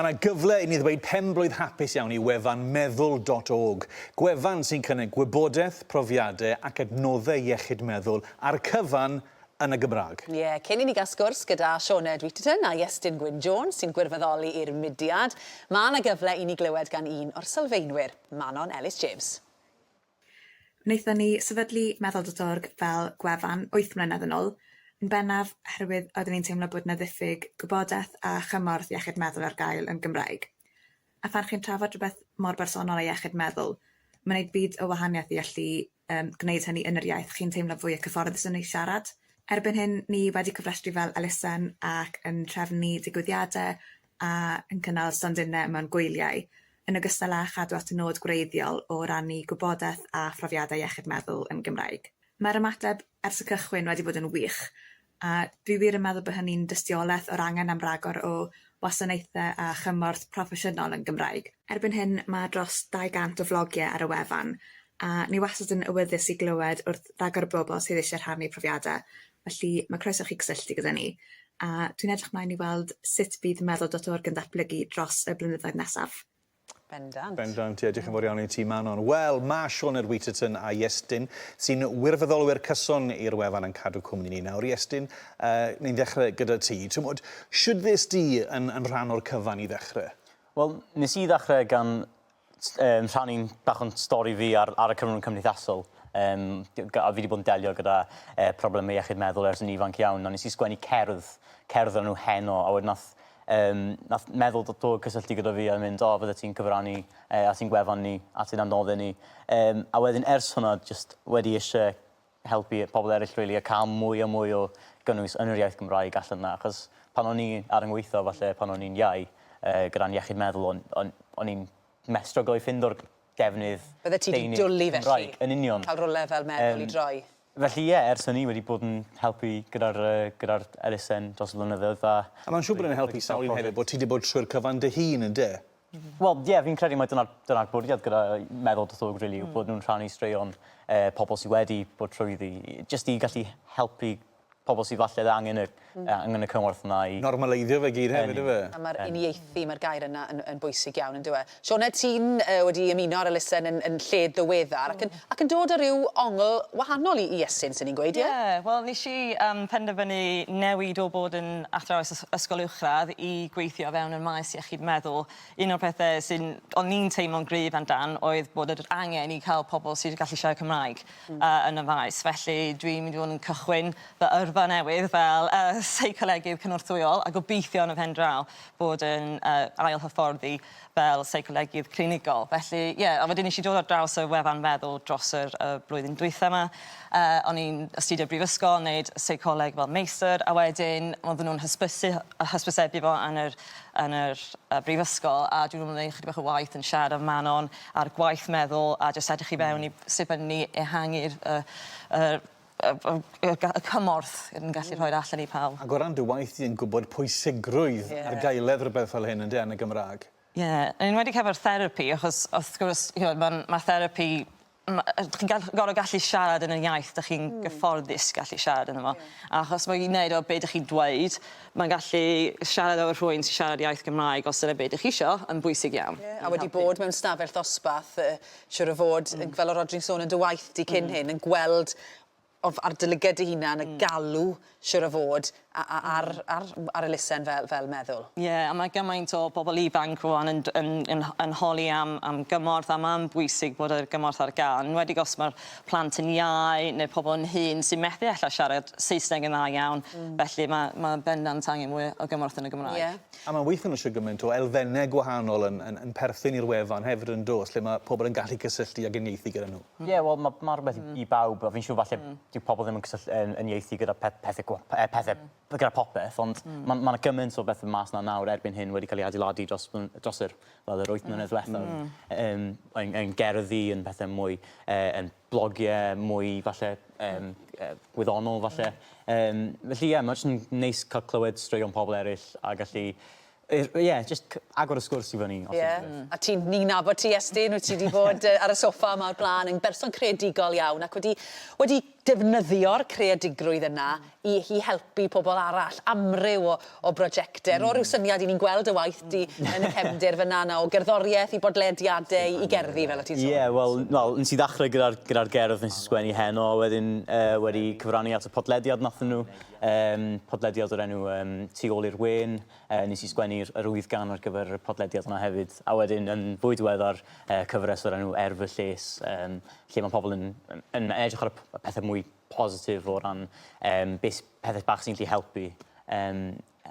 Mae yna gyfle i ni ddweud pen-blwydd hapus iawn i wefan meddwl dot org, gwefan sy'n cynnig gwybodaeth, profiadau ac adnoddau iechyd meddwl a'r cyfan yn y Gymraeg. Ie, cyn i ni gael sgwrs gyda Sioned Wheaterton a Iestyn Gwyn Jones sy'n gwirfoddoli i'r mudiad, mae yna gyfle i ni glywed gan un o'r sylfaenwyr, Manon Ellis James. Wnaethon ni sefydlu Meddwl dot org fel gwefan wyth mlynedd yn ôl, yn bennaf oherwydd oeddwn i'n teimlo bod 'na ddiffyg gwybodaeth a chymorth iechyd meddwl ar gael yn Gymraeg. A phan chi'n trafod rhywbeth mor bersonol â iechyd meddwl, mae'n gwneud byd o wahaniaeth i allu yym gwneud hynny yn yr iaith chi'n teimlo fwya cyfforddus ynddi siarad. Erbyn hyn ni wedi cofrestru fel elusen ac yn trefnu digwyddiade a yn cynnal stondinne mewn gwyliau, yn ogystal â chadw at y nod gwreiddiol o rannu gwybodaeth a phrofiadau iechyd meddwl yn Gymraeg. Mae'r ymateb ers y cychwyn wedi bod yn wych, a dwi wir yn meddwl bod hynny'n dystiolaeth o'r angen am ragor o wasanaethau a chymorth proffesiynol yn Gymraeg. Erbyn hyn mae dros 200 o flogiau ar y wefan, a ni wastad yn awyddus i glywed wrth ragor o bobl sydd eisiau rhannu profiadau Felly, mae croeso i chi gysylltu gyda ni, a dwi'n edrych mlaen i weld sut bydd meddwl dot org yn datblygu dros y blynyddoedd nesaf. Bendant. Bendant, ie. Diolch yn fawr iawn i ti, Manon. Wel, mae Sioned Wheaterton a Iestyn, sy'n wirfoddolwyr cyson i'r wefan yn cadw cwmni ni nawr. Iestyn, uh, ni'n ddechrau gyda ti. Twmod, siwt ddes di yn, yn rhan o'r cyfan i ddechrau? Wel, nes i ddechrau gan Yym rhan un bach o'n stori fi ar ar y cyfrwng cymdeithasol yym gy- gy- a fi 'di bod yn delio gyda yy probleme iechyd meddwl ers yn ifanc iawn a nes i sgwennu cerdd cerdd o'r enw Heno a wedyn nath yym nath meddwl do- dod cysylltu gyda fi a mynd o fyddet ti'n cyfrannu yy at ein gwefan ni at ein adnodde ni yym a wedyn ers hwnna jyst wedi isie helpu pobl eryll rili a ca'l mwy a mwy o gynnwys yn yr iaith Gymraeg allan 'na achos pan o'n i ar 'y ngweitho falle pan o'n i'n iau yy gyda'n iechyd meddwl o'n o'n o'n i'n methu stryglo i ffindo'r defnydd... Byddet ti 'di dwli felly? ...Cymraeg. Yn union. Ca'l rywle fel meddwl i droi. Yym felly ie ers hynny wedi bod yn helpu gyda'r yy gyda'r elusen dros y blynyddoedd a... A ma'n siŵr bod e'n helpu sawl un hefyd bo' ti 'di bod trwy'r cyfan dy hun ynde? Wel, ie, fi'n credu mai dyna'r dyna'r bwriad gyda Meddwl Doethurwg rili yw bod nhw'n rhannu straeon eh, pobl sydd wedi bod trwyddi, jyst i gallu helpu pobl sydd falle angen y hmm. angen y cymorth yna i... Normaleiddio fe gyd hefyd yfe? A mae'r uniaethu, mae'r gair yna yn, yn bwysig iawn, yn dywe. Sioned, ti'n uh, wedi ymuno ar elusen yn, yn lle ddiweddar, ac yn Ac yn dod â rhyw ongl wahanol i i Esyn, swn i'n gweud, ie? Ie, wel nes i yym penderfynu newid o bod yn athrawes ys- ysgol uwchradd i gweithio o fewn y maes iechyd meddwl. Un o'r pethe sy'n... o'n i'n teimlo'n gryf amdan oedd bod yr angen i ca'l pobol sydd yn gallu siarad Cymraeg... Hmm. ...yy yn y faes felly dwi'n mynd i fod yn cychwyn fy yrfa newydd fel yy seicolegydd cynorthwyol a gobeithio yn y pen draw bod yn yy ail hyfforddi fel seicolegydd clinigol. Felly ie, a wedyn nesh i dod ar draws y wefan meddwl dros yr y blwyddyn dwytha 'ma. Yy o'n i'n astudio brifysgol, neud seicoleg fel meistr, a wedyn odden nw'n hysbysu hy- yy hysbysebu fo yn yr yn yr yy brifysgol, a dwi 'di bod yn neud chydig bach o waith yn siarad â Manon ar gwaith meddwl a jyst edrych i fewn i sut ma' ni ehangu'r y yr y y y ga- y cymorth yn yn gallu rhoi'r allan i pawb. Ag o ran dy waith di yn gwbod pwysigrwydd... Ie. ...ar gaeledd rwbeth fel hyn ynde yn y Gymrag. Ie yn enwedig hefo'r therapi achos wrth gwrs ch'mod ma'n ma' therapi ma' yy chi'n gall- gor'o' gallu siarad yn y iaith 'dych chi'n... Hmm. ...gyfforddus gallu siarad yno fo. Ie. A achos ma' i neud o be' 'dych chi'n dweud ma'n gallu siarad efo rhywun sy siarad iaith Gymraeg os dyna be' dych chi isio yn bwysig iawn. Ie a wedi bod mewn stafell ddosbath yy siŵr o fod, yn- fel o' Rhodri'n sôn yn dy waith di cyn hyn, yn gweld o f- ar dy lyged dy hunan y galw, siŵr o fod, a- a- ar ar m- ar elusen fel fel meddwl. Ie, a ma' gymaint o bobol ifanc rŵan yn d- yn yn h- yn holi am am gymorth a ma'n bwysig bod yr gymorth ar ga'l, enwedig os ma'r plant yn iau ne' pobol yn hŷn sy methu ella siarad Saesneg yn dda iawn. Hmm. Felly ma' ma' bendant angen mwy o gymorth yn y Gymraeg. Ie. A mae'n weithio nhw eisiau gymaint o elfennau gwahanol yn, yn, yn perthyn i'r wefan hefyd yn dos, lle mae pobl yn gallu cysylltu ac yn ieithu gyda nhw. Ie, mm. yeah, wel, mae ma rhywbeth mm. i bawb, a fi'n siŵr falle mm. dyw pobl ddim yn, cysylltu, yn, yn ieithu gyda peth, pethau, eh, pethau mm. gyda popeth, ond mm. mae ma yna gymaint o bethau mas na nawr erbyn hyn wedi cael ei adeiladu dros, dros yr, fel yr wyth mm. mlynedd diwethaf, mm. yn, yn, yn gerddi, yn pethau mwy, eh, yn blogie mwy falle yym yy gwyddonol falle. Yym felly ie ma' jyst yn neis ca'l clywed straeon pobol eryll a gallu yy ie jyst c- agor y sgwrs i fyny os unrhyw beth. Ie a ti'n ni'n nabod ti Estyn wyt ti 'di bod yy ar y soffa 'ma o'r bla'n yn berson creadigol iawn ac wedi wedi defnyddio'r creadigrwydd yna i i helpu pobl arall, amryw o o brojecte. Ro ryw syniad i ni'n gweld dy waith di yn y cefndir fyna yna o gerddoriaeth i bodlediade i i gerddi fel o' ti'n sôn. Ie wel wel nes i ddachre gyda'r gyda'r gerdd nes i sgwennu heno a wedyn yy wedi cyfrannu at y podlediad nathon nhw yym podlediad o'r enw yym Tu ôl i'r wên yy nes i sgwennu'r yr wyth gan ar gyfer y podlediad yna hefyd a wedyn yn fwy diweddar yy cyfres o'r enw Er fy lles yym lle ma' pobl yn yn yn edrych ar y p- y pethe mwy positif o ran yym be' s- pethe bach sy'n gallu helpu yym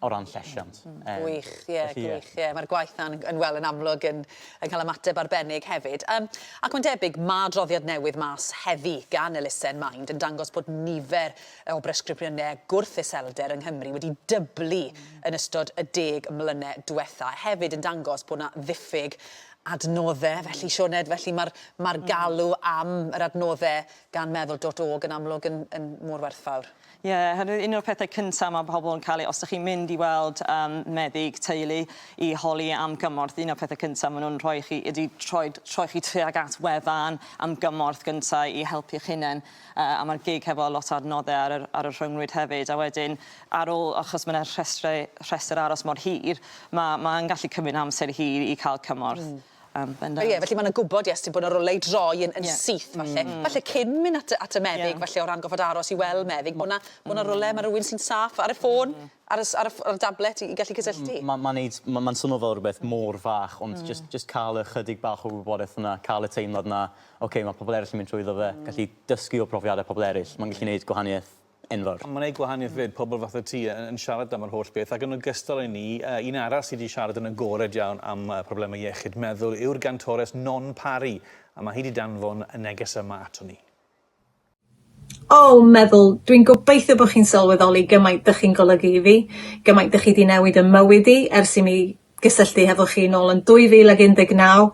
o ran llesiant. Yym. Gwych ie gwych ie ma'r gwaith 'na'n yn yn wel yn amlwg yn yn ca'l ymateb arbennig hefyd. Yym ac mae'n debyg ma' adroddiad newydd mas heddi gan elusen Mind yn dangos bod nifer yy o bresgripsiyne gwrth iselder yng Nghymru wedi dyblu yn ystod y deg mlyne dwetha. Hefyd yn dangos bod 'na ddiffyg adnodde felly Sioned felly ma'r ma'r galw am yr adnodde gan meddwl dot org yn amlwg yn yn mor werthfawr. Ie oherwydd un o'r pethe cynta ma' pobol yn ca'l ei os dych chi'n mynd i weld yym meddyg teulu i holi am gymorth un o'r pethe cynta ma' nw'n rhoi i chi ydi troed troi chi tuag at wefan am gymorth gynta i helpu'ch hunen yy a ma'r gig hefo lot o adnodde ar yr ar y rhyngrwyd hefyd a wedyn ar ôl achos ma' 'na rhestre rhestyr aros mor hir ma' ma' yn gallu cymryd amser hir i ca'l cymorth. Hmm. Yym bendant. Ie felly ma' 'na gwbod ie os ti'n bod yn rywle i droi yn yn syth falle falle cyn myn' at y at y meddyg falle o ran gorfod aros i weld meddyg bo' 'na bo' 'na rywle ma' rywun sy'n saff ar y ffôn ar y s- ar y ff- ar y dablet i i gallu cysylltu. M- ma' ma'n neud ma' ma'n swno fel rwbeth mor fach ond jyst jyst ca'l y chydig bach o wybodeth yna ca'l y teimlad 'na oce ma' pobol eryll yn mynd trwyddo fe gallu dysgu o profiade pobol eryll ma'n gallu neud gwahanieth. enfawr. Mae'n gwneud gwahaniaeth 'fyd, pobl fatha ti yn siarad am yr holl beth ac yn ogystal â ni, un arall sydd wedi siarad yn agored iawn am problemau iechyd meddwl yw'r gantores Non Parry a mae hi wedi danfon y neges yma ato ni. O, meddwl, dwi'n gobeithio bod chi'n sylweddoli gymaint dych chi'n golygu i fi, gymaint dych chi wedi newid ym mywyd i ers i mi gysylltu hefo chi nôl yn 2019.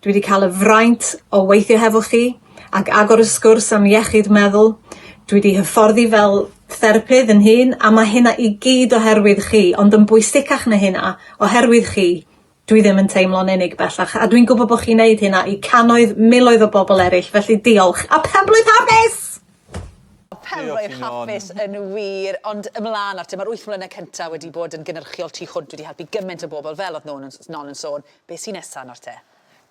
Dwi wedi cael y fraint o weithio hefo chi ac agor y sgwrs am iechyd meddwl. Dwi wedi hyfforddi fel therapydd yn hun a mae hynna i gyd oherwydd chi, ond yn bwysicach na hynna, oherwydd chi, dwi ddim yn teimlo'n unig bellach a dwi'n gwybod bod chi'n neud hynna i cannoedd, miloedd o bobl eraill, felly diolch a pen-blwydd hapus! Pam fo' eich hapus yn wir ond ymlan nawr te ma'r wyth mlyne cynta wedi bod yn gynyrchiol tu hwnt wedi helpu gyment o bobol fel o'dd Noon yn s- Non yn sôn be' sy nesa nawr te?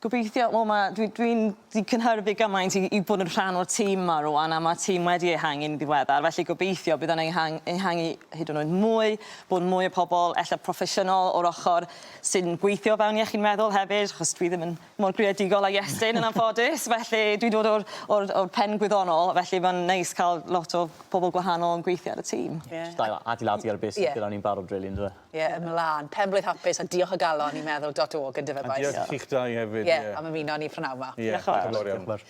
Gobeithio wel ma' dwi dwi'n di cynhyrfu gymaint i i bod yn rhan o'r tîm 'ma rŵan a ma' tîm wedi ehangu'n ddiweddar felly gobeithio bydd o'n ehang- ehangu hyd yn oed mwy bod mwy o pobol ella proffesiynol o'r ochor sy'n gweithio o fewn iechyd meddwl hefyd achos dwi ddim yn mor greadigol a Iestyn yn anffodus felly dwi'n dod o'r o'r o'r pen gwyddonol felly ma'n neis ca'l lot o pobol gwahanol yn gweithio ar y tîm. Ie. Jyst ail adeiladu ar be' sy gyda ni'n barod rili yndyw e? Ie ymlan. Pen-blwydd hapus a diolch o galon i Meddwl dot org yndyfe bois? A diolch i chi'ch dau hefyd ie. Ie am ymuno â ni prynawn 'ma. Ie. Diolch y' fawr. Diolch y' fawr iawn.